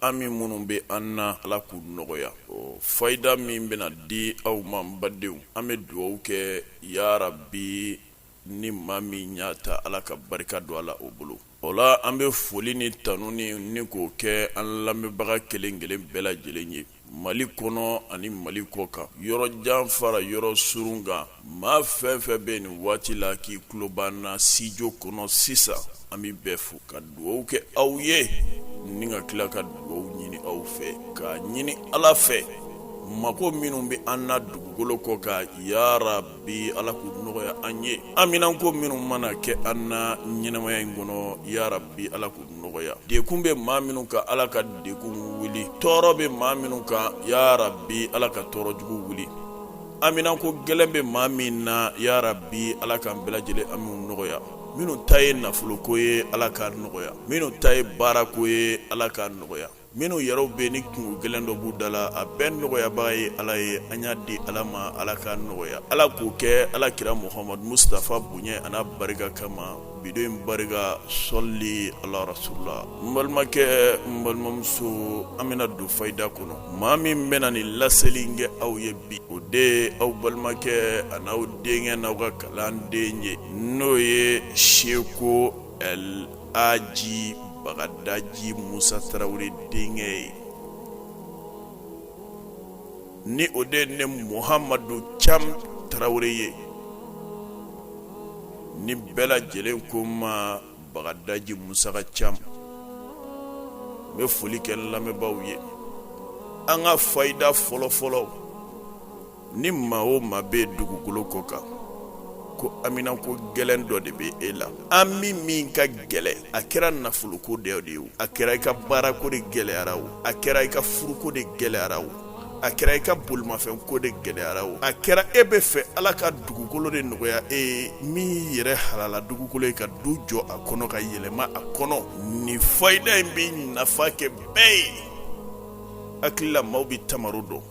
Hami minnu bɛ an na ala k'u nɔgɔya fayida min bɛna di aw ma n badenw an bɛ dugawu kɛ yarabi ni maa min y'a ta ala ka barika don a la o bolo o la an bɛ foli ni tanuni ni k'o kɛ an lamɛnbaga kelen kelen bɛɛ lajɛlen ye mali kɔnɔ ani mali kɔ kan yɔrɔ jan fara yɔrɔ surun kan Maa fɛn fɛn bɛ nin waati la k'i tulo b'an na studio kɔnɔ sisan an bɛ bɛɛ fo ka dugawu kɛ aw ye ni ka tila ka dugawu ɲini aw fɛ ka ɲini ala fɛ mako minnu bɛ an na dugukolo kɔ kan yarabi ala k'u nɔgɔya an ye haminanko minnu mana kɛ an na ɲɛnamaya in kɔnɔ yarabi ala k'u nɔgɔya dekun bɛ maa minnu kan ala ka dekun wuli tɔɔrɔ bɛ maa minnu kan yarabi ala ka tɔɔrɔ jugu wuli haminanko gɛlɛn bɛ maa min na yarabi ala k'an bɛɛ lajɛlen hamiw nɔgɔya minnu ta ye nafoloko ye ala k'a nɔgɔya minnu ta ye baarako ye ala k'a nɔgɔya minnu yɛrɛw bɛ ni kunko gɛlɛn dɔ b'u da la a bɛɛ nɔgɔyabaga ye ala ye an y'a di ala ma ala k'a nɔgɔya ala k'o kɛ ala kira muhamadu musitafa bonya an'a barika kama bi don in barika sɔli ala rasulula n balimakɛ n balimamuso an bɛna don fayida kɔnɔ maa min bɛna nin laseli kɛ aw ye bi o de aw balimakɛ an'aw denkɛ n'aw ka kalanden ye n'o ye seko laji bagadaji musa tarawele denkɛ ye ni o de ne muhamadu cam tarawele ye ni bɛɛ lajɛlen ko n ma bagadaji musa ka cam n bɛ foli kɛ lamɛnbaaw ye an ka fayida fɔlɔfɔlɔ ni maa o maa bɛ dugukolo kɔ kan ko haminanko gɛlɛn dɔ de bɛ e la hami min ka gɛlɛn a kɛra nafoloko de ye o a kɛra i ka baarako de gɛlɛyara o a kɛra i ka furuko de gɛlɛyara o a kɛra i ka bolimafɛnko de gɛlɛyara o a kɛra e b'a fɛ ala ka dugukolo de nɔgɔya e ye min y'i yɛrɛ halala dugukolo ye ka du jɔ a kɔnɔ ka yɛlɛma a kɔnɔ nin fayida in bɛ nafa kɛ bɛɛ ye hakili la maaw bɛ tamaro dɔn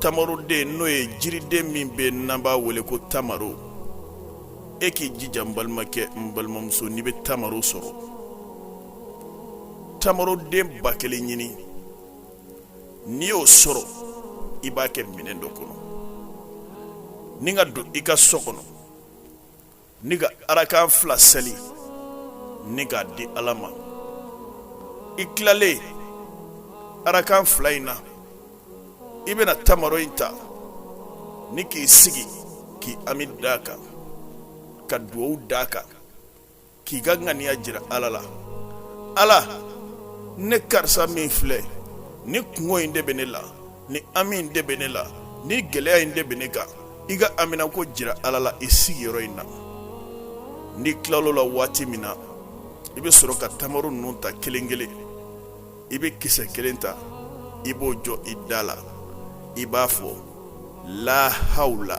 tamaroden n'o ye jiriden min bɛ n'an b'a wele ko tamaro e k'i jija n balimakɛ n balimamuso n'i bɛ tamaro sɔrɔ tamaroden ba kelen ɲini n'i y'o sɔrɔ i b'a kɛ minɛn dɔ kɔnɔ ni ka don i ka so kɔnɔ ni ka arakan fila seli ni k'a di ala ma i tilalen arakan fila in na i bɛna tamaro in ta ni k'i sigi k'i hami d'a kan ka dugawu d'a kan k'i ka ŋaniya jira ala la ala ne karisa min filɛ nin kungo in de bɛ ne la nin hami in de bɛ ne la nin gɛlɛya in de bɛ ne kan i ka haminako jira ala la i sigiyɔrɔ in na n'i tilala o la waati min na i bɛ sɔrɔ ka tamaro ninnu ta kelen kelen i bɛ kisɛ kelen ta i b'o jɔ i da la i b'a fɔ la hawla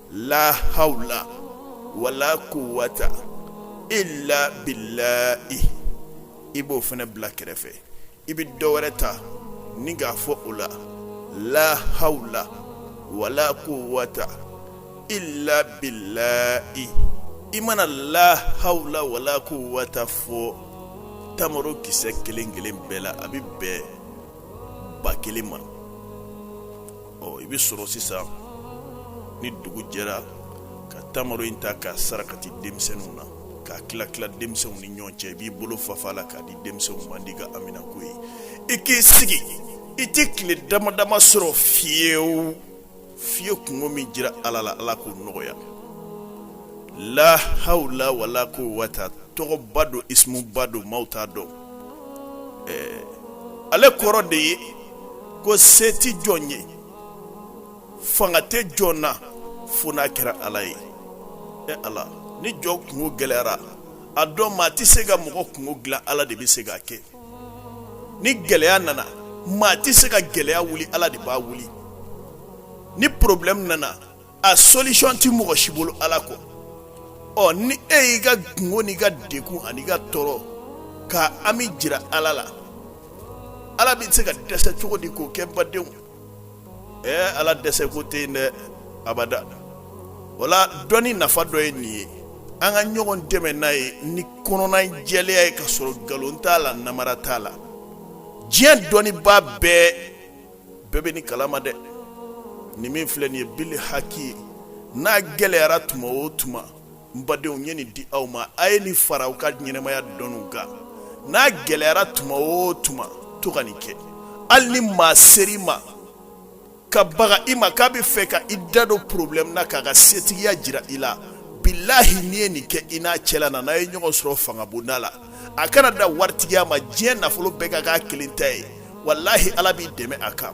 la hawla wala quwwata illa billahi i b'o fana bila kɛrɛfɛ i bɛ dɔ wɛrɛ ta ni k'a fɔ o la la hawla wala quwwata illa billahi i mana la hawla wala quwwata fɔ tamaro kisɛ kelen kelen bɛɛ la a bɛ bɛn ba kelen ma ɔ i bɛ sɔrɔ sisan ni dugu jɛra ka tamaro in ta k'a sarakati denmisɛnninw na k'a tila tila denmisɛnw ni ɲɔgɔn cɛ i b'i bolo fafa la k'a di denmisɛnw ma n'i ka haminako ye i k'i sigi i tɛ tile dama dama sɔrɔ fiyewu i ye kungo min jira ala la ala k'o nɔgɔya la hawla wala quwwata tɔgɔba don isimuba don maaw t'a dɔn ɛɛ ale kɔrɔ de ye ko se tɛ jɔn ye fanga tɛ jɔn na fo n'a kɛra ala ye e ala ni jɔn kungo gɛlɛyara a dɔn maa tɛ se ka mɔgɔ kungo dilan ala de bɛ se k'a kɛ ni gɛlɛya nana maa tɛ se ka gɛlɛya wuli ala de b'a wuli ni porobilɛmu nana a solution ti mɔgɔ si bolo ala kɔ ɔ ni e y'i ka kungo n'i ka degun an'i ka tɔɔrɔ ka hami jira ala la ala bɛ se ka dɛsɛ cogo di k'o kɛ badenw ɛɛ ala dɛsɛko tɛ yen dɛ abada o la dɔnni nafa dɔ ye nin ye an ka ɲɔgɔn dɛmɛ n'a ye ni kɔnɔna jɛlenya ye ka sɔrɔ nkalon t'a la namara t'a la diɲɛ dɔnnibaa bɛɛ bɛɛ bɛ nin kalama dɛ nin min filɛ nin ye bili haki ye n'a gɛlɛyara tuma o tuma n badenw n ye nin di aw ma a ye nin fara aw ka ɲɛnamaya dɔnniw kan n'a gɛlɛyara tuma o tuma to ka nin kɛ hali ni maa sera i ma ka baga i ma k'a bɛ fɛ ka i da don problème na k'a ka setigiya jira i la bilahi n'i ye nin kɛ i n'a cɛla na n'a ye ɲɔgɔn sɔrɔ fangabonda la a kana da waritigiya ma diɲɛ nafolo bɛɛ ka k'a kelen ta ye walahi ala b'i dɛmɛ a kan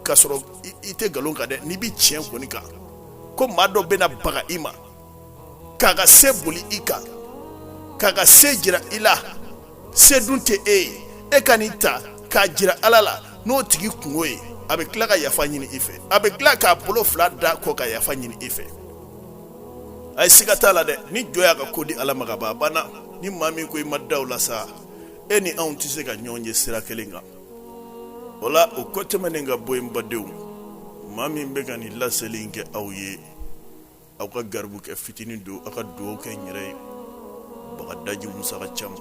k'a sɔrɔ i tɛ nkalon kan dɛ n'i bɛ tiɲɛ kɔni kan ko maa dɔ bɛna baga i ma k'a ka se boli i kan k'a ka se jira i la se dun tɛ e ye e ka nin ta k'a jira ala la n'o tigi kungo ye a bɛ tila ka yafa ɲini i fɛ a bɛ tila k'a bolo fila da kɔ ka yafa ɲini i fɛ a ye siga t'a la dɛ ni jɔn y'a ka ko di ala ma ka ban a banna ni maa min ko i ma da o la sa e ni anw tɛ se ka ɲɔgɔn ye sira kelen kan o la o kɔ tɛmɛnen ka bɔ yen badenw maa min bɛ ka nin laseli in kɛ aw ye aw ka garibu kɛ fitinin don aw ka dugawu kɛ n yɛrɛ ye bagadaji musa ka cam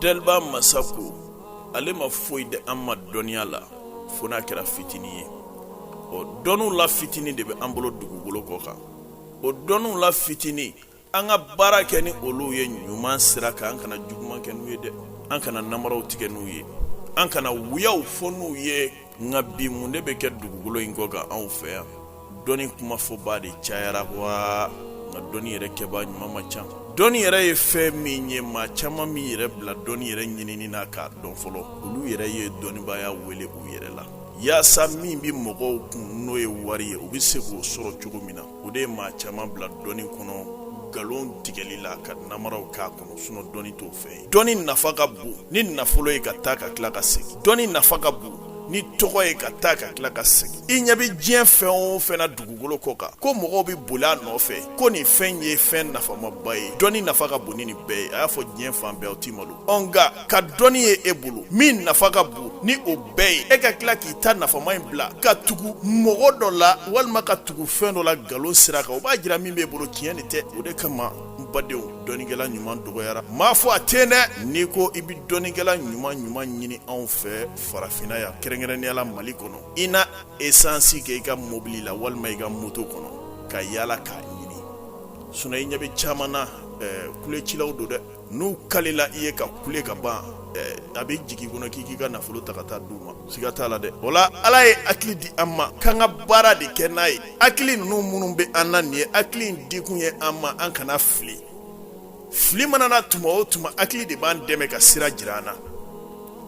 deliba masa ko ale ma foyi di an ma dɔnniya la fo n'a kɛra fitinin ye ɔ dɔnniw la fitinin de bɛ an bolo dugukolo kɔ kan o dɔnniw la fitinin an ka baara kɛ ni olu ye ɲuman sira kan an kana juguman kɛ n'u ye dɛ an kana namaraw tigɛ n'u ye an kana wuyaw fɔ n'u ye nka bi mun de bɛ kɛ dugukolo in kɔ kan anw fɛ yan dɔnni kumafɔba de cayara wa nka dɔnni yɛrɛ kɛba ɲuman ma ca dɔnni yɛrɛ ye fɛn min ye maa caman m'i yɛrɛ bila dɔnni yɛrɛ ɲinini na k'a dɔn fɔlɔ olu yɛrɛ ye dɔnnibaya wele u yɛrɛ la Yaasa min bɛ mɔgɔw kun n'o ye wari ye u bɛ se k'o sɔrɔ cogo min na o de ye maa caman bila dɔnni kɔnɔ nkalon tigɛli la ka namaraw k'a kɔnɔ sinɔn dɔnni t'o fɛn ye dɔnni nafa ka bon ni nafolo ye ka taa ka tila ka segin dɔnni nafa ka bon ni tɔgɔ ye ka taa ka tila ka segin i ɲɛ bɛ diɲɛ fɛn o fɛn na dugukolo kɔ kan ko mɔgɔw bɛ boli a nɔfɛ ko nin fɛn ye fɛn nafamaba ye dɔnni nafa ka bon ni nin bɛɛ ye a y'a fɔ diɲɛ fan bɛɛ aw tɛ malo nka ka dɔnni ye e bolo min nafa ka bon ni o bɛɛ ye e ka tila k'i ta nafama in bila ka tugu mɔgɔ dɔ la walima ka tugu fɛn dɔ la nkalon sira kan o b'a jira min b'e bolo tiɲɛ de tɛ o de kama n badenw dɔnnikɛla ɲuman dɔgɔyara m'a fɔ a tɛ yen dɛ n'i ko i bɛ dɔnnikɛla ɲuman ɲuman ɲini anw fɛ farafinna yan kɛrɛnkɛrɛnnenya la mali kɔnɔ i na esansi kɛ i ka mobili la walima i ka moto kɔnɔ ka yaala k'a ɲini sinɔn i ɲɛ bɛ caman na ɛɛ kulecilaw don dɛ n'u kalila i ye ka kule ka ban a bɛ jigin kɔnɔ k'i k'i ka nafolo ta ka taa d'u ma siga t'a la dɛ wala ala ye hakili di an ma k'an ka baara de kɛ n'a ye hakili ninnu minnu bɛ an na nin ye hakili in dikun ye an ma an kana fili fili mana na tuma o tuma hakili de b'an dɛmɛ ka sira jira an na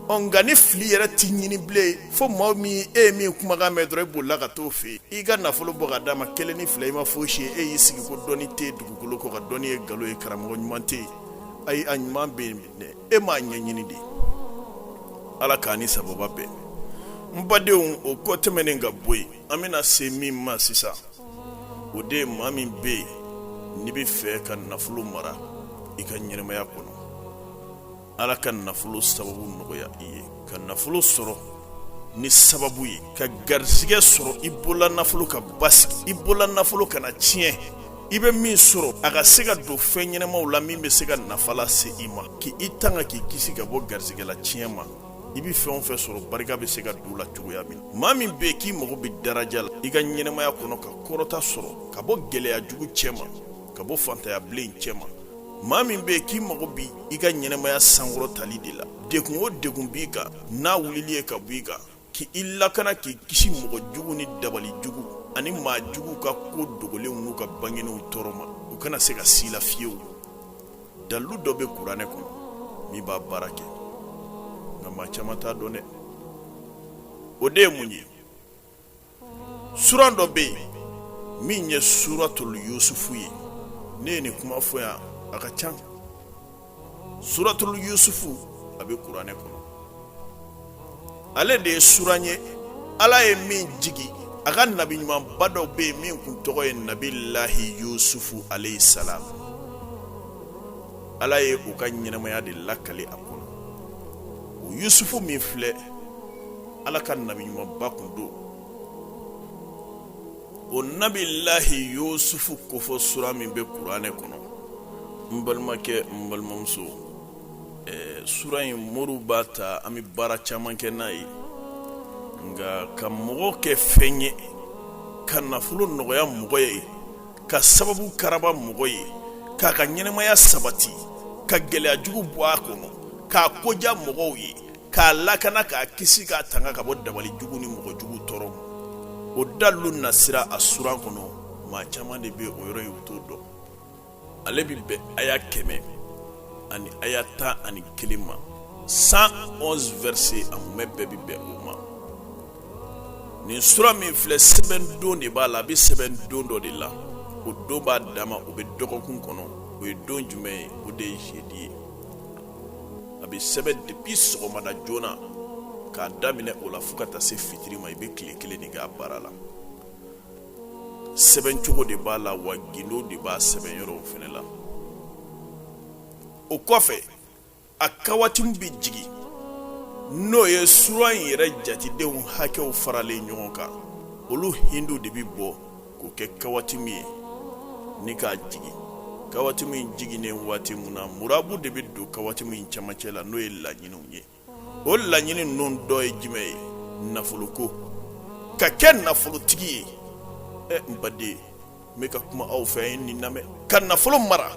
ɔ nka ni fili yɛrɛ tɛ ɲini bilen fo maa min e ye min kumakan mɛn dɔrɔn e bolila ka t'o fɛ yen i ka nafolo bɔ ka d'a ma kelen ni fila i ma fosi ye e y'i sigi ko dɔnni tɛ dugukolo kɔ kan dɔnni ye nkalon ye karamɔgɔ ɲuman tɛ yen ayi a ɲuman bɛ yen dɛ e m'a ɲɛɲini de ala k'an ni sababa bɛn n badenw o kɔ tɛmɛnen ka bɔ yen an bɛna se min ma sisan o de ye maa min bɛ yen n'i bɛ fɛ ka nafolo mara i ka ɲɛnamaya kɔnɔ ala ka nafolo sababu nɔgɔya i ye ka nafolo sɔrɔ ni sababu ye ka garisɛgɛ sɔrɔ i bolola nafolo ka basigi i bolola nafolo kana tiɲɛ i bɛ min sɔrɔ a ka se ka don fɛn ɲɛnɛmaw la min bɛ se ka nafa lase i ma k' i tanga k'i kisi ka bɔ garisɛgɛ latiɲɛ ma i bɛ fɛn o fɛn sɔrɔ barika bɛ se ka don a la cogoya min na maa min bɛ yen k'i mago bɛ daraja la i ka ɲɛnɛmaya kɔnɔ ka kɔrɔta sɔrɔ ka bɔ gɛlɛya jugu cɛ ma ka bɔ fantanya bilen cɛ ma maa min bɛ yen k'i mago b'i ka ɲɛnɛmaya sankɔrɔtali de la degun o degun b'i kan n'a wulili ye ka bɔ i kan k' i lakana k'i kisi mɔgɔ jugu ni dabali jugu ani maa juguw ka ko dogolenw n'u ka bangenenw tɔɔrɔ ma u kana se ka s'i la fiyewu dalilu dɔ bɛ kuranɛ kɔnɔ min b'a baara kɛ nka maa caman t'a dɔn dɛ o de ye mun ye suran dɔ bɛ yen min ye suratul yusufu ye ne ye nin kuma fɔ yan a ka ca suratul yusufu a bɛ kuranɛ kɔnɔ ale de ye suran ye ala ye min jigi a ka nabi ɲumanba dɔ bɛ yen min kun tɔgɔ ye nabilahi yusufu alayhi salam ala ye o ka ɲɛnɛmaya de lakale a kɔnɔ o yusufu min filɛ ala ka nabi ɲumanba kun don o nabilahi yusufu kofɔ sura min bɛ kuranɛ kɔnɔ n balimakɛ n balimamuso eh, sura in moriw b'a ta an bɛ baara caman kɛ n'a ye nka ka mɔgɔ kɛ fɛn ye ka nafolo nɔgɔya mɔgɔ ye ka sababu karaba mɔgɔ ye k'a ka ɲɛnɛmaya sabati ka gɛlɛya jugu bɔ a kɔnɔ k'a ko diya mɔgɔw ye k'a lakana k'a kisi k'a tanga ka bɔ dabali jugu ni mɔgɔ jugu tɔɔrɔ o dalilu nasira a suran kɔnɔ maa caman de bɛ o yɔrɔ ye u t'o dɔn ale bɛ bɛn aya kɛmɛ ani aya tan ani kelen ma 111 verset a mumɛ bɛɛ bɛ bɛn o ma nin sura min filɛ sɛbɛn don de b'a la a bɛ sɛbɛn don dɔ de la o don b'a dama o bɛ dɔgɔkun kɔnɔ o ye don jumɛn ye o de ye jeudi ye a bɛ sɛbɛn depuis sɔgɔmada joona k'a daminɛ o la fo ka taa se fitiri ma i bɛ tile kelen de k'a baara la sɛbɛn cogo de b'a la wa gindo de b'a sɛbɛn yɔrɔw fana la o kɔfɛ a kawatimu bɛ jigin n'o ye sura in yɛrɛ jatedenw hakɛw faralen ɲɔgɔn kan olu hindu de bɛ bɔ k'o kɛ kawatimu ye ni k'a jigin kawatimu jiginnen waati min na murabu de bɛ don kawatimu camancɛ la n'o ye laɲiniw ye o laɲini ninnu dɔ ye jumɛn ye nafolo ko ka kɛ nafolotigi ye ɛ n baden n bɛ ka kuma aw fɛ ye nin lamɛn ka nafolo mara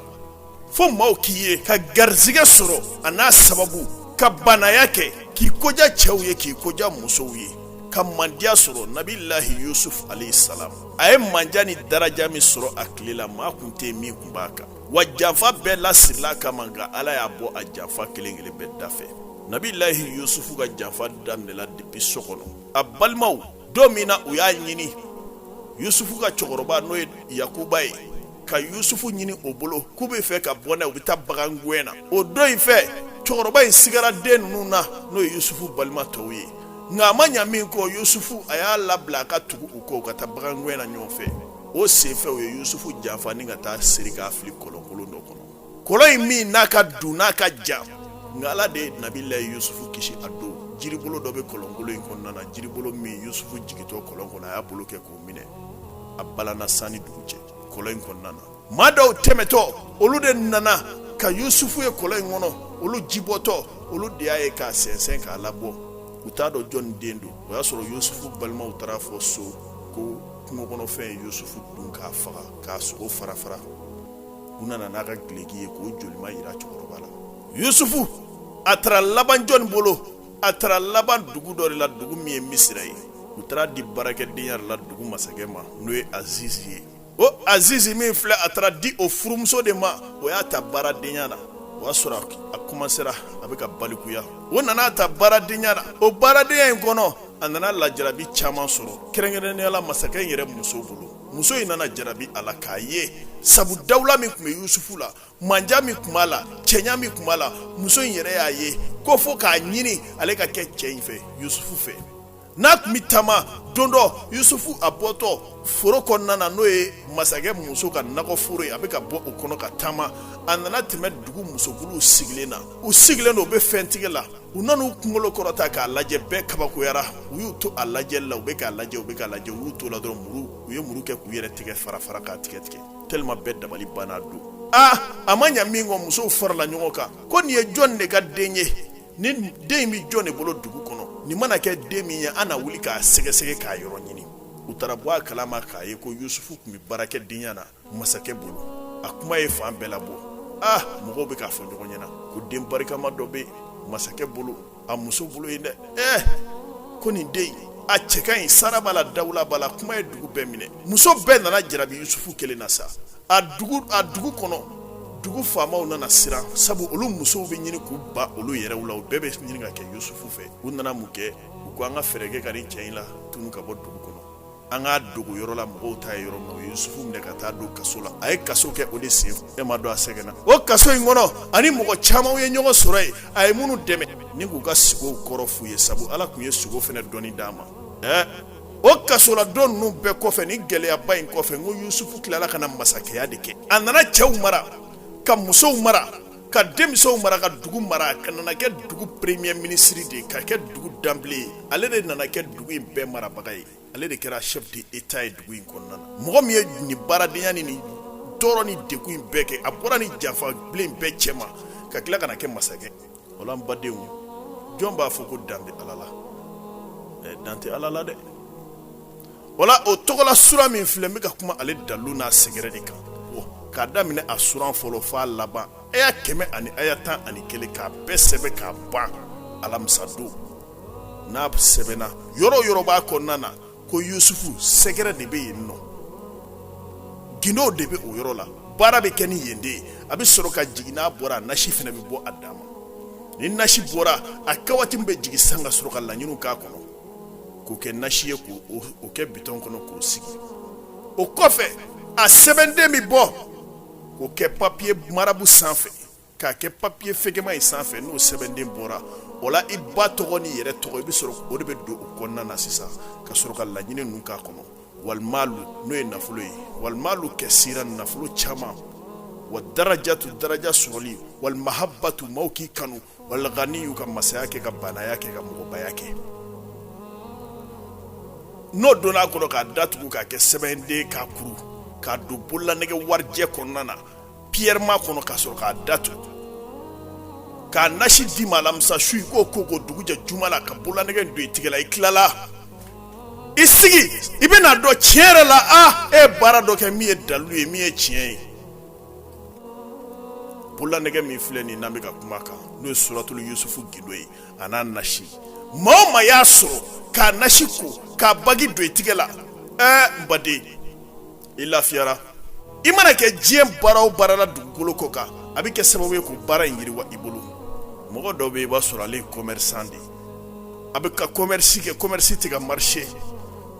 fo maaw k'i ye ka garizigɛ sɔrɔ a n'a sababu ka banaya kɛ k'i koja cɛw ye k'i koja musow ye ka mandiya sɔrɔ nabilahi yusuf alayhi salam a ye manja ni daraja min sɔrɔ a tile la maa kun tɛ min kun b'a kan wa janfa bɛɛ lasirila a kama nka ala y'a bɔ a janfa kelen kelen bɛɛ dafɛ nabilahi yusufu ka janfa daminɛla depuis so kɔnɔ a balimaw don min na u y'a ɲini yusufu ka cɛkɔrɔba n'o ye yakuba ye ka yusufu ɲini o bolo k'u bɛ fɛ ka bɔ n'a ye u bɛ taa bagan gɛn na o don in fɛ cɛkɔrɔba in sigara den ninnu na n'o ye yusufu balima tɔw ye nka a ma ɲa min kɔ yusufu a y'a labila a ka tugu u kɔ u ka taa bagan gɛn na ɲɔgɔn fɛ o senfɛ u ye yusufu janfa ni ka taa siri k'a fili kɔlɔnkolon dɔ kɔnɔ kɔlɔn in min n'a ka dun n'a ka jan nka ala de ye nabilahi yusufu kisi a don jiribolo dɔ bɛ kɔlɔnkolon in kɔnɔna na jiribolo min yusufu jigintɔ kɔlɔn kɔnɔ a y'a bolo kɛ k'o minɛ a balanna san ni dugu cɛ kɔlɔn in kɔnɔna na maa dɔw tɛmɛtɔ olu de nana ka yusufu ye kɔlɔn in kɔnɔ olu jibɔtɔ olu de y'a ye k'a sɛnsɛn k'a labɔ u t'a dɔn jɔnni den don o y'a sɔrɔ yusufu balimaw taara a fɔ so ko kungo kɔnɔfɛn ye yusufu dun k'a faga k'a sogo fara fara u nana n'a ka gileki ye k'o jolima yira cɛkɔrɔba la yusufu a taara laban jɔnni bolo a taara laban dugu dɔ de la dugu min ye misira ye u taara a di baarakɛdenya de la dugu masakɛ ma n'o ye azizi ye o azizi min filɛ a taara di o furumuso de ma o y'a ta baaradenya na o y'a sɔrɔ a komansera a bɛ ka balikuya o nana a ta baaradenya na o baaradenya in kɔnɔ a nana lajarabi caman sɔrɔ kɛrɛnkɛrɛnnenya la masakɛ in yɛrɛ muso bolo muso in nana jarabi a la k'a ye sabu dawula min tun bɛ yusufu la manja min tun b'a la cɛɲa min tun b'a la muso in yɛrɛ y'a ye ko fo k'a ɲini ale ka kɛ cɛ in fɛ yusufu fɛ n'a tun bɛ taama don dɔ yusufu a bɔtɔ foro kɔnɔna na n'o ye masakɛ muso ka nakɔ foro ye a bɛ ka bɔ o kɔnɔ ka taama a nana tɛmɛ dugu musokuluw sigilen na u sigilen don u bɛ fɛntigɛ la u nana u kunkolo kɔrɔta k'a lajɛ bɛɛ kabakoyara u y'u to a lajɛli la u bɛ k'a lajɛ u bɛ k'a lajɛ u y'u to la dɔrɔn muru u ye muru kɛ k'u yɛrɛ tigɛ fara fara k'a tigɛ tigɛ tellement bɛɛ dabali banna don aa a ma ɲa min kɔ musow farala ɲɔgɔn kan ko nin ye jɔn de ka den ye nin den in bɛ jɔn de bolo dugu kɔnɔ nin mana kɛ den min ye an na wuli k'a sɛgɛsɛgɛ k'a yɔrɔ ɲini u taara bɔ a kalama k'a ye ko yusufu tun bɛ baarakɛdenya na masakɛ bolo a kuma ye fan bɛɛ labɔ ah mɔgɔw bɛ k'a fɔ ɲɔgɔn ɲɛna ko den barikama dɔ bɛ masakɛ bolo a muso bolo yen dɛ eh ko nin den in a cɛ ka ɲi sara b'a la dawula b'a la kuma ye dugu bɛɛ minɛ muso bɛɛ nana jarabi yusufu kelen na sa a dugu kɔnɔ dugu faamaw nana siran sabu olu musow bɛ ɲini k'u ban olu yɛrɛw la u bɛɛ bɛ ɲini ka kɛ yusufu fɛ u nana mun kɛ u ko an ka fɛɛrɛ kɛ ka nin cɛ in latunu ka bɔ dugu kɔnɔ an k'a dogo yɔrɔ la mɔgɔw t'a ye yɔrɔ min u ye Yusufu minɛ ka taa don kaso la a ye kaso kɛ o de sen e ma dɔn a sɛgɛnna o kaso in kɔnɔ a ni mɔgɔ camanw ye ɲɔgɔn sɔrɔ yen a ye minnu dɛmɛ ni k'u ka sugow kɔrɔ f'u ye sabu Ala tun ye sugo fana dɔnni d'a ma ɛɛ o kasoladon ninnu bɛɛ kɔfɛ ni gɛlɛyaba in kɔfɛ n ko Yusufu tilala ka na masakɛya de kɛ a nana cɛw mara ka musow mara ka denmisɛnw mara ka dugu mara ka nana kɛ dugu premier ministre de ka kɛ dugu danbile ye ale de nana kɛ dugu in bɛɛ marabaga ye ale de kɛra chef de état ye dugu in kɔnɔna na mɔgɔ min ye nin baaradenya ni nin tɔɔrɔ ni dɛgun in bɛɛ kɛ a bɔra ni janfa bilen bɛɛ cɛma ka tila ka na kɛ masakɛ wala n badenw jɔn b'a fɔ ko dan bɛ ala la dan tɛ ala la dɛ wala o tɔgɔla sura min filɛ n bɛ ka kuma ale dalu n'a sɛgɛrɛ de kan k'a daminɛ a suran fɔlɔ f'a laban aya kɛmɛ ani aya tan ani kelen k'a bɛɛ sɛbɛn k'a ban alamisadon n'a sɛbɛnna yɔrɔ yɔrɔ b'a kɔnɔna na ko yusufu sɛgɛrɛ de bɛ yen nɔ gindo de bɛ o yɔrɔ la baara bɛ kɛ ni yen de ye a bɛ sɔrɔ ka jigin n'a bɔra nasi fana bɛ bɔ a dama ni nasi bɔra a kawatimi bɛ jigin san ka sɔrɔ ka laɲiniw k'a kɔnɔ k'o kɛ nasi ye k'o kɛ bitɔn kɔnɔ k'o sigi o kɔfɛ a sɛbɛnden bɛ bɔ k'o kɛ papiye marabu sanfɛ k'a kɛ papiye fɛgɛma in sanfɛ n'o sɛbɛnden bɔra o la i ba tɔgɔ n'i yɛrɛ tɔgɔ i bɛ sɔrɔ o de bɛ don o kɔnɔna na sisan ka sɔrɔ ka laɲini ninnu k'a kɔnɔ walimalu n'o ye nafolo ye walimalu kɛsira nafolo caman wa darajatu daraja sɔrɔli walimahabatu maaw k'i kanu waliganiyu ka masaya kɛ ka baanaya kɛ ka mɔgɔbaya kɛ n'o donna a kɔnɔ k'a datugu k'a kɛ sɛbɛnden k'a kuru k'a don bololanɛgɛ warijɛ kɔnɔna na piyɛrɛma kɔnɔ ka sɔrɔ k'a datugu k'a nasi d'i ma alamisa su i k'o ko o dugujɛ juma la ka bololanɛgɛ don i tigɛ la i tilala i sigi i bɛna dɔn tiɲɛ yɛrɛ la a e ye baara dɔ kɛ min ye dalilu ye min ye tiɲɛ ye bololanɛgɛ min filɛ nin n'an bɛ ka kuma kan n'o ye suratulu yusufu gindo ye a n'a nasi maa o maa y'a sɔrɔ k'a nasi ko k'a bagi don i tigɛ la ɛɛ n baden i lafiyara i mana kɛ diɲɛ baara o baara la dugukolo kɔ kan a bɛ kɛ sababu ye k'o baara in yiriwa i bolo mɔgɔ dɔw bɛ yen i b'a sɔrɔ ale ye commerçant de a bɛ ka commerce kɛ commerce tɛ ka marché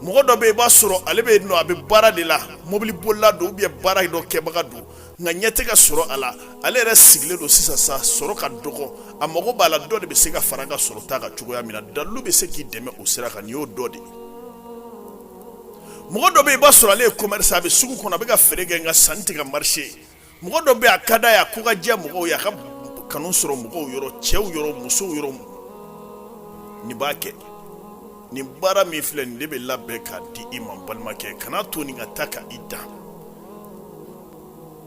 mɔgɔ dɔ bɛ yen i b'a sɔrɔ ale bɛ yen nɔ a bɛ baara de la mobili bolila don ou bien baara dɔ kɛbaga don nka ɲɛ tɛ ka sɔrɔ a la ale yɛrɛ sigilen don sisan sa a sɔrɔ ka dɔgɔ a mago b'a la dɔ de bɛ se ka fara a ka sɔrɔta kan cogoya min na dalu bɛ se k'i dɛmɛ o sira kan nin y'o dɔ de ye mɔgɔ dɔ bɛ yen i b'a sɔrɔ ale ye commerce a bɛ sugu kɔnɔ a bɛ ka feere kɛ nka sanni tɛ ka marché mɔgɔ dɔ bɛ a ka d'a y'a ko ka diya mɔgɔw ye a ka kanu sɔrɔ mɔgɔw yɔrɔ cɛw yɔrɔ musow yɔrɔ nin b'a kɛ nin baara min filɛ nin de bɛ labɛn k'a di i ma balimakɛ kana to nin ka taa ka i dan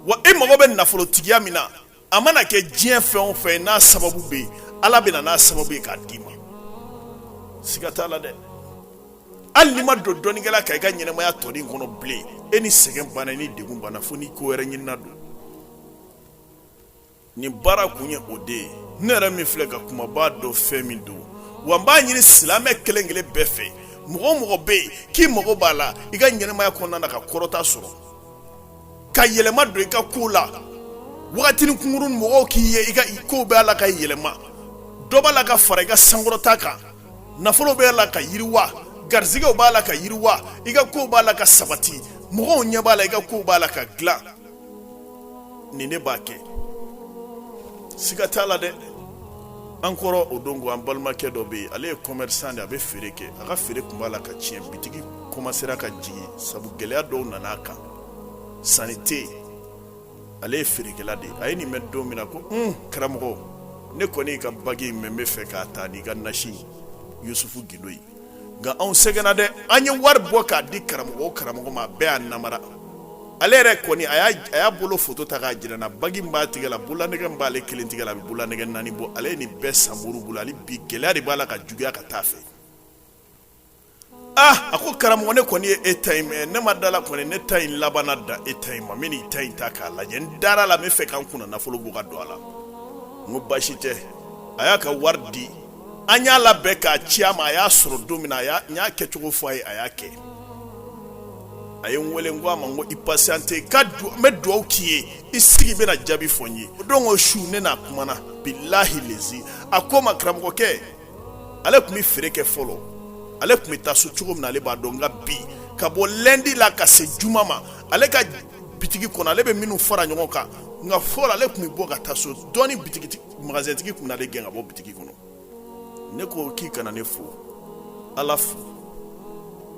wa e mago bɛ nafolotigiya min na a mana kɛ diɲɛ fɛn o fɛn n'a sababu bɛ yen ala bɛ na n'a sababu ye k'a d'i ma siga t'a la dɛ hali n'i ma don dɔnnikɛla kan i ka ɲɛnamaya tɔ nin kɔnɔ bilen e ni sɛgɛn banna ni degun banna fo ni ko wɛrɛ ɲinina don nin baara kun ye o de ye ne yɛrɛ min filɛ ka kuma b'a dɔn fɛn min don wa n b'a ɲini silamɛ kelen kelen bɛɛ fɛ mɔgɔ o mɔgɔ bɛ yen k'i mago b'a la i ka ɲɛnamaya kɔnɔna na ka kɔrɔta sɔrɔ ka yɛlɛma don i ka ko la wagatinin kunkurun mɔgɔw k'i ye i ka kow bɛ a la ka yɛlɛma dɔ b'a la ka fara i ka sankɔrɔta kan nafolo b'a la ka yiriwa garisɛgɛw b'a la ka yiriwa i ka kow b'a la ka sabati mɔgɔw ɲɛ b'a la i ka kow b'a la ka dilan nin ne b'a kɛ siga t'a la dɛ an kɔrɔ o don ko an balimakɛ dɔ bɛ yen ale ye commerçant de a bɛ feere kɛ a ka feere tun b'a la ka tiɲɛ bitigi commencera ka jigin sabu gɛlɛya dɔw nana a kan sanni tɛ yen ale ye feerekɛla de ye a ye nin mɛn don min na ko un karamɔgɔ ne kɔni y'i ka bagi in mɛn n bɛ fɛ k'a ta n'i ka nasi yusufu gindo ye nka anw sɛgɛnna dɛ an ye wari bɔ k'a di karamɔgɔ o karamɔgɔ ma a bɛɛ y'an namara ale yɛrɛ kɔni a y'a bolo foto ta k'a jira n na bagi min b'a tigɛ la bololanɛgɛ min b'ale kelen tigɛ la a bɛ bololanɛgɛ naani bɔ ale ye nin bɛɛ san moriw bolo hali bi gɛlɛya de b'a la ka juguya ka taa fɛ a ko karamɔgɔ ne kɔni ye e ta in mɛn ne ma da la kɔni ne ta in labanna da e ta in ma n bɛn'i ta in ta k'a lajɛ n dara la n bɛ fɛ ka n kunna nafolo bɔ ka don a la n ko baasi tɛ a y'a ka wari di an y'a labɛn k'a ci a ma a y'a sɔrɔ don min na a n y'a kɛcogo fɔ a ye a y'a kɛ a ye n wele n ko a ma n ko i patienter ka n bɛ dugawu k'i ye i sigi bɛna jaabi fɔ n ye o don o su ne n'a kumana bilahi lezi a ko n ma karamɔgɔkɛ ale tun bɛ feere kɛ fɔlɔ ale tun bɛ taa so cogo min na ale b'a dɔn nka bi ka bɔ lundi la ka se juma ma ale ka bitigi kɔnɔ ale bɛ minnu fara ɲɔgɔn kan nka fɔlɔ ale tun bɛ bɔ ka taa so dɔɔni bitigi magasintigi tun bɛn'ale gɛn ka bɔ bitigi kɔnɔ ne ko k'i kana ne fo ala fo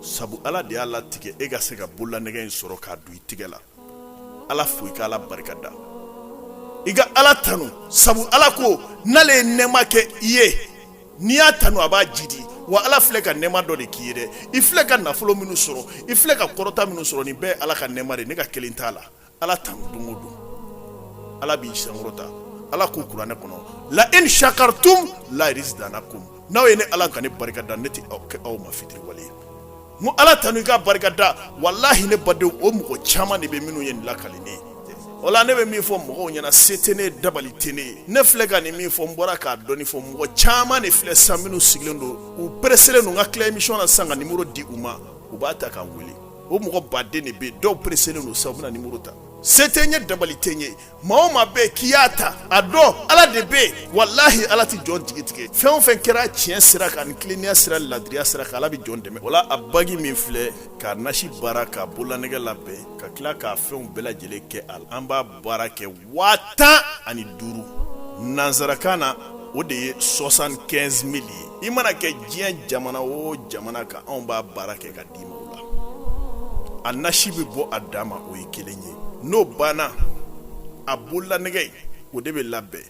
sabu ala de y'a latigɛ e ka se ka bololanɛgɛ in sɔrɔ k'a don i tigɛ la ala fo i ka ala barika da i ka ala tanu sabu ala ko n'ale ye nɛɛma kɛ i ye n'i y'a tanu a b'a jidi wa ala filɛ ka nɛɛma dɔ de k'i ye dɛ i filɛ ka nafolo minnu sɔrɔ i filɛ ka kɔrɔta minnu sɔrɔ nin bɛɛ ala ka nɛɛma de ne ka kelen t'a la ala tanu don o don ala b'i sankɔrɔta ala ko kuranɛ kɔnɔ la in shakartum la azidanakum n'aw ye ne ala ka ne barika da ne tɛ kɛ aw ma fitiriwale ye N ko ala tanu i ka barika da walahi ne badenw o mɔgɔ caman de bɛ minnu ye nin lakali ne ye o la ne bɛ min fɔ mɔgɔw ɲɛna se tɛ ne dabali tɛ ne ne filɛ ka nin min fɔ n bɔra k'a dɔɔni fɔ mɔgɔ caman de filɛ san minnu sigilen don u pereselen don n ka tila émission na san ka nimero di u ma u b'a ta ka n weele o mɔgɔ baden de bɛ dɔw pereselen don sa u bɛna nimero ta se tɛ n ye dabali tɛ n ye maa o maa bɛ k'i y'a ta a dɔn ala de bɛ yen walahi ala tɛ jɔn jigi tigɛ fɛn o fɛn kɛra tiɲɛ sira kan ni tilennenya sira ladiriya sira kan ala bɛ jɔn dɛmɛ o la a bagi min filɛ k'a nasi baara k'a bololanɛgɛ labɛn ka tila k'a fɛnw bɛɛ lajɛlen kɛ a la an b'a baara kɛ waa tan ani duuru nansarakan na o de ye soixante-quinze mille ye i mana kɛ diɲɛ jamana o jamana kan anw b'a baara kɛ ka di d'i ma o la a nasi bɛ bɔ a dan ma o ye kelen ye n'o banna a bololanɛgɛ o de bɛ labɛn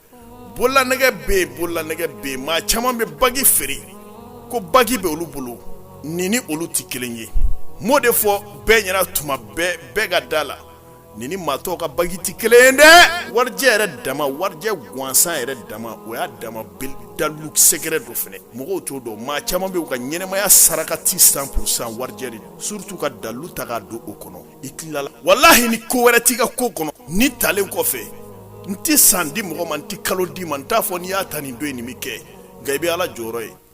bololanɛgɛ bɛ yen bololanɛgɛ bɛ yen maa caman bɛ bagi feere ko bagi bɛ olu bolo nin ni olu tɛ kelen ye m'o de fɔ bɛɛ ɲɛna tuma bɛɛ bɛɛ ka da la Nin ni maa tɔw ka bague tɛ kelen ye dɛ! Warijɛ yɛrɛ dama, warijɛ gansan yɛrɛ dama, o y'a dama dalilu secret dɔ fana ye, mɔgɔw t'o dɔn, maa caaman bɛ yen, u ka ɲɛnamaya sarakati cent pour cent warijɛ de don, surtout ka dalilu ta k'a don o kɔnɔ, i tilala walahi ni ko wɛrɛ t'i ka ko kɔnɔ, nin talen kɔfɛ, n tɛ san di mɔgɔ ma, n tɛ kalo d'i ma, n t'a fɔ n'i y'a ta nin don in nin bɛ kɛ, nka i bɛ Ala jɔyɔrɔ ye.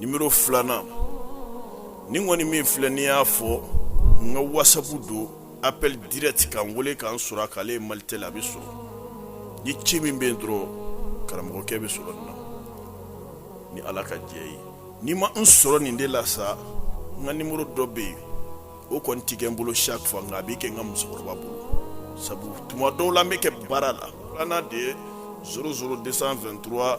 nimero filanan nin kɔni min filɛ n'i y'a fɔ n ka whatsapp don appel direct ka n wele ka n sɔrɔ a k'ale ye malitel a bɛ sɔrɔ ni ci min bɛ yen dɔrɔn karamɔgɔkɛ bɛ sɔrɔ nin na ni ala ka jɛn ye n'i ma n sɔrɔ nin de la sa n ka nimero dɔ bɛ yen o kɔni tɛ kɛ n bolo chaque fois nka a bɛ kɛ n ka musokɔrɔba bolo sabu tuma dɔw la n bɛ kɛ baara la filanan de ye 00 223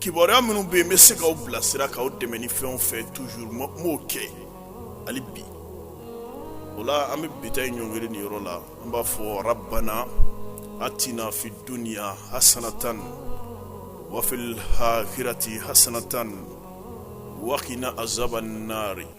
kibaruya minnu bɛ yen n bɛ se k'aw bilasira k'aw dɛmɛ ni fɛn o fɛn toujours m'o kɛ hali bi o la an bɛ bi ta in ɲɔngiri nin yɔrɔ la an b'a fɔ rabbana atina fi dunya hasanatan wa fil akhirati hasanatan wa qina azabannari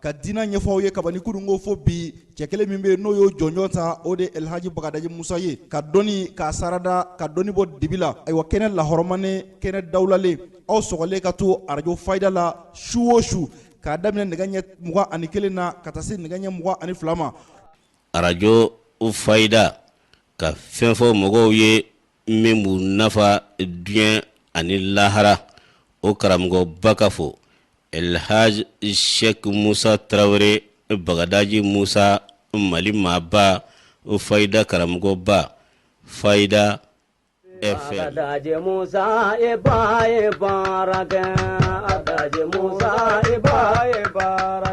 ka dina ɲɛfɔ aw ye kabini kununko fo bi cɛ kelen min bɛ n'o y'o jɔnjɔn ta o de elhaji bagadaji musa ye ka dɔnni k'a sarada ka dɔnni bɔ dibi la ayiwa kɛnɛ lahɔrɔmanen kɛnɛ dawulalen aw sɔgɔlen ka to arajo fayida la su o su k'a daminɛ nɛgɛ ɲɛ mugan ani kelen na ka taa se nɛgɛ ɲɛ mugan ani fila ma arajo fayida ka fɛn fɔ mɔgɔw ye min b'u nafa diɲɛ ani lahara o karamɔgɔba ka fɔ elhaj shek musa tarawele bagadaji musa mali maaba fayida karamɔgɔba fayida FM Bagadaji Musa e ba ye baara kɛ Bagadaji Musa e ba ye baara